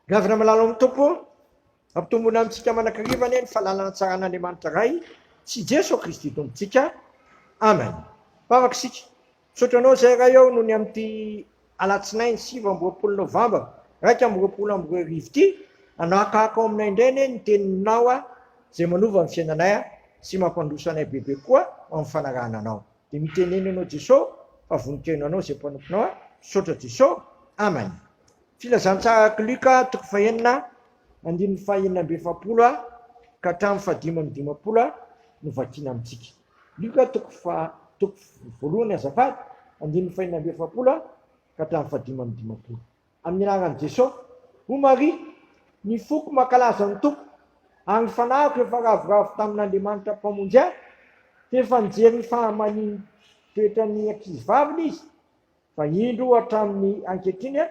Ravina malala ao amin'ny Tompo, ampitomboina amintsika manakariva anie ny fahalalana tsara an'Andriamanitra Ray sy Jeso Kristy Tompontsika. Amen. Mpavaka isika. Misaotra anao izay Ray ao noho ny amin'ity alatsinainy sivy amby roapolo novambra iraika amby roapolo amby roa arivo ity. Anahakahaka ao aminay indray anie ny teninao izay manova ny fiainanay sy mampandroso anay bebe koa amin'ny fanarahana anao. Dia mitenena ianao Jesosy fa vonon-tena anao izay mpanomponao ahy, misaotra Jesosy. Amen. Filazantsaraka Luka toko fahenina andininy fahenina amby efapolo ka hatramin'ny fahadimy amby dimampolo no vakiana amintsika. Luka toko fa toko voalohany azafady andininy fahenina amby efapolo ka hatramin'ny fahadimy amby dimampolo. Amin'ny anaran'i Jesosy, hoy Maria, ny foko mankalaza ny Tompo, ary ny fanahiko efa ravoravo tamin'Andriamanitra Mpamonjy ahy, f'efa nijery ny fahamanian'ny toetran'ny ankizivaviny Izy, fa indro hatramin'ny ankehitriny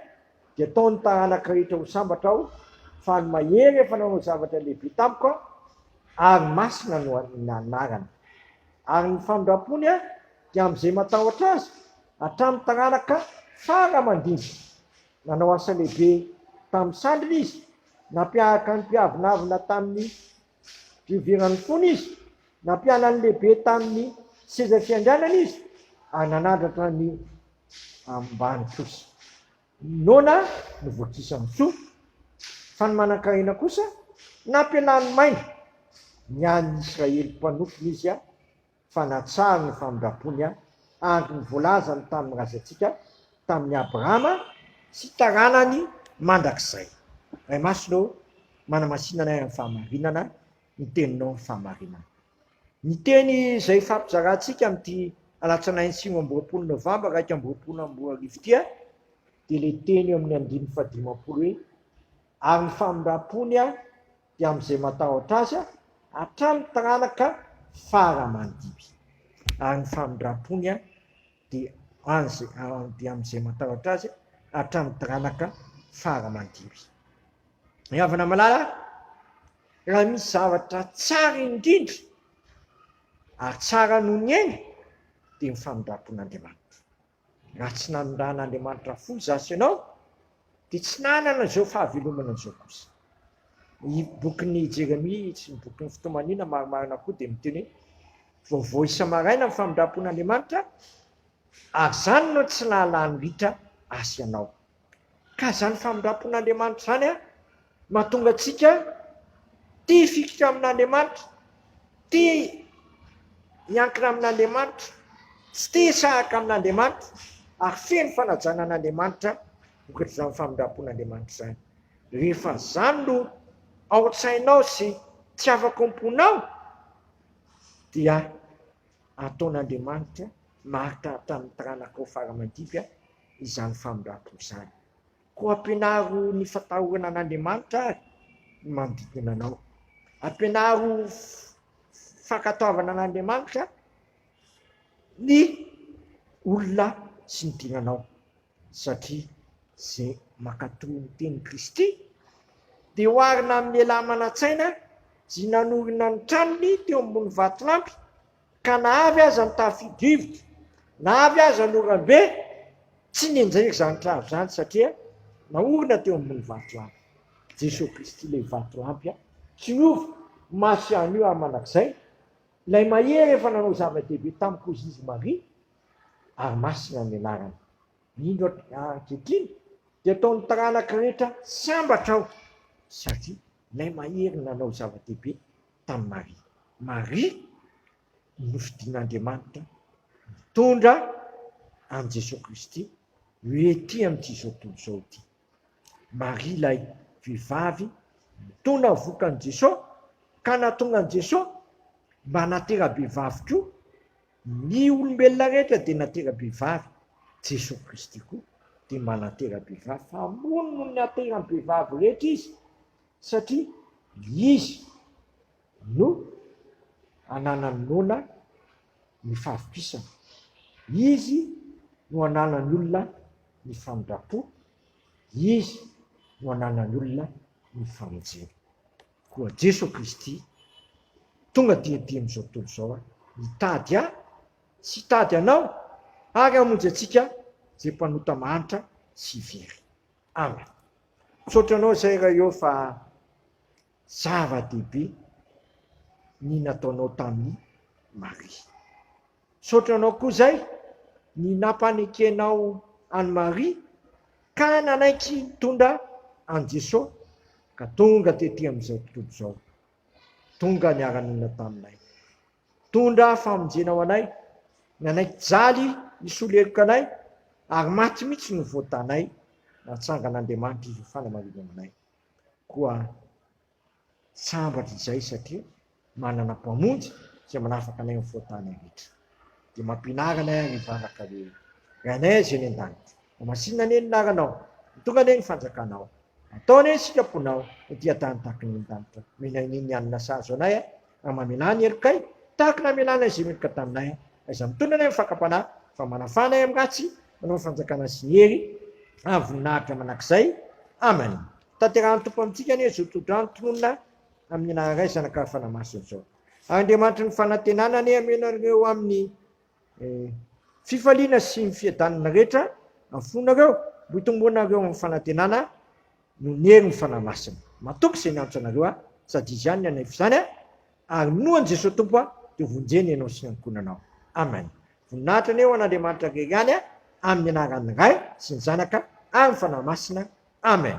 dia atao ny taranaka rehetra ho sambatra aho, fa ny Mahery efa nanao zavatra lehibe tamiko, ary masina no anarany. Ary ny famindram-pony dia amin'izay matahotra Azy, Hatramin'ny taranaka fara aman-dinika, nanao asa lehibe tamin'ny sandriny izy, nampiaraka ny mpiavonavona tamin'ny fioviran'ny fony izy, nampianan'ny lehibe tamin'ny seza fiandrianany izy, ary nanandratra ny ambany kosa. Noana novokisan'ny soa, fa ny manan-karena kosa nampialany maina. Ny an'ny Israely mpanompo izy. fa natsahany ny famindrampony ahy, andry ny voalazany tamin'ny razantsika, tamin'i Abrahama sy taranany mandrakizay. Ray Masina ô, manamasina anay amin'ny fahamarinana ny Teninao ny fahamarinana. Ny teny izay hifampizarantsika amin'ity alatsinainy sivy amby roapolo novambra iraika amby roapolo amby roa arivo ity dia ilay teny eo amin'ny andininy fahadimampolo hoe, Ary ny famindrampony ahy, dia amin'izay matahotra azy hatramin'ny taranaka fara aman-dimy. Ary ny famindram-pony dia amin'izay matahotra azy hatramin'ny taranaka fara aman-dimy. Ny havana malala, raha misy zavatra tsara indrindra ary tsara noho ny aina dia ny famindram-pon'Andriamanitra. Raha tsy nanondrana Andriamanitra fo izaho sy ianao, dia tsy nanana izao fahavelomana izao kosa. Ny bokin'i Jeremia sy ny bokin'ny fitomaniana marimarina koa dia miteny hoe vaovao isa-maraina ny famindram-pon'Andriamanitra, ary izany no tsy nahalany ritra ahy sy ianao. Ka izany famindram-pon'Andriamanitra izany mahatonga antsika tia hifikitra amin'Andriamanitra, tia miankina amin'Andriamanitra, tsy tia hisahaka amin'Andriamanitra ary feno fanajana an'Andriamanitra vokatr'izany famindram-pon'Andriamanitra izany. Rehefa izany no ao an-tsainao sy tsy afako am-ponao dia Ataon'Andriamanitra marika tamin'ny taranakao fara-mandimby izany famindram-po izany. Koa ampianaro ny fatahorana an'Andriamanitra àry ny manodidina anao. Ampianaro fankatoavana an'Andriamanitra ny olona sy ny diranao. Satria izay mankatò ny tenin'i Kristy dia oharina amin'ny lehilahy manan-tsaina izay nanorina ny tranony teo ambony vatolampy, ka na avy aza ny tafio-drivotra, na avy aza ny oram-be, tsy nenjery izany trano izany satria naorina teo ambony vatolampy. Jesoa Kristy ilay vatolampy tsy miova, maty ihany io ary mandrakizay, ilay mahery efa nanao zava-dehibe tamin'i Kozy izy Maria, ary masina ny anarany. Mino aho fa ankehitriny dia ataon'ny taranaka rehetra sambatra aho satria ilay mahery nanao zava-dehibe tamin'i Maria. Maria no nofidin'Andriamanitra nitondra an'i Jesoa Kristy ho ety amin'ity izao tontolo izao ity. Maria ilay vehivavy nitona vokan'i Jesoa ka nahatonga an'i Jesoa mba hanatera-behivavy koa. Ny olombelona rehetra dia natera-behivavy, Jesoa Kristy koa dia mba natera-behivavy fa ambony noho ny ateran'ny vehivavy rehetra Izy satria Izy no ananan'ny noana ny fahavokisana, Izy no ananan'ny olona ny famindram-po, Izy no ananan'ny olona ny famonjena. Koa Jeso Kristy, tonga dia dia amin'izao tontolo izao aho, hitady ahy sy hitady anao ary hamonjy antsika izay mpanota mahantra sy very. Amen. Misaotra anao izay Ray ô fa zava-dehibe ny nataonao tamin'i Maria. Misaotra anao koa izay ny nampanekenao an'i Maria ka nanaiky nitondra an'i Jeso ka tonga tety amin'izao tontolo izao. Tonga niara-nonina taminay. Nitondra famonjena ho anay, nanaiky hijaly hisolo heloka anay ary maty mihitsy no voatanay, natsangan'Andriamanitra izy ho fanamarinana anay. Koa. Sambatra izay satria manana Mpamonjy izay manafaka anay amin'ny fahotana rehetra. Dia mampianara anay ary hivavaka hoe, Ry Anay izay any an-danitra, homasinina anie ny laranao, ho tonga anie ny fanjakanao, atao anie ny sitraponao ho dia tany tahaka ny an-danitra, omena anie ny hanina sahaza anay ary mamelà ny helokay tahaka ny namelànay izay meloka taminay, izay mitondra anay amin'ny fakam-panahy fa manafà anay amin'ny ratsy, Manao fanjakana sy ny hery ary voninahitra mandrakizay. Amen. Tanterahan'ny Tompo amintsika anie izao tohodrano tononina amin'ny anarany Ray, Zanaka ary Fanahy Masina izao. Ary Andriamanitry ny fanantenana anie hameno anareo amin'ny eh, fifaliana sy ny fiadanana rehetra amin'ny fonareo, mba hitomboanareo amin'ny fanantenana noho ny herin'ny Fanahy Masina. Matoky izay niantso anareo aho, sady Izy ihany ny anay f'izany a. Ary minoa an'i Jesoa Tompo aho dia vonjena ianao sy ny ankohonanao. Amen. Voninahitra anie ho an'Andriamanitra rery ihany a, amin'ny anaran'ny Ray sy ny Zanaka ary ny Fanahy Masina. Amen.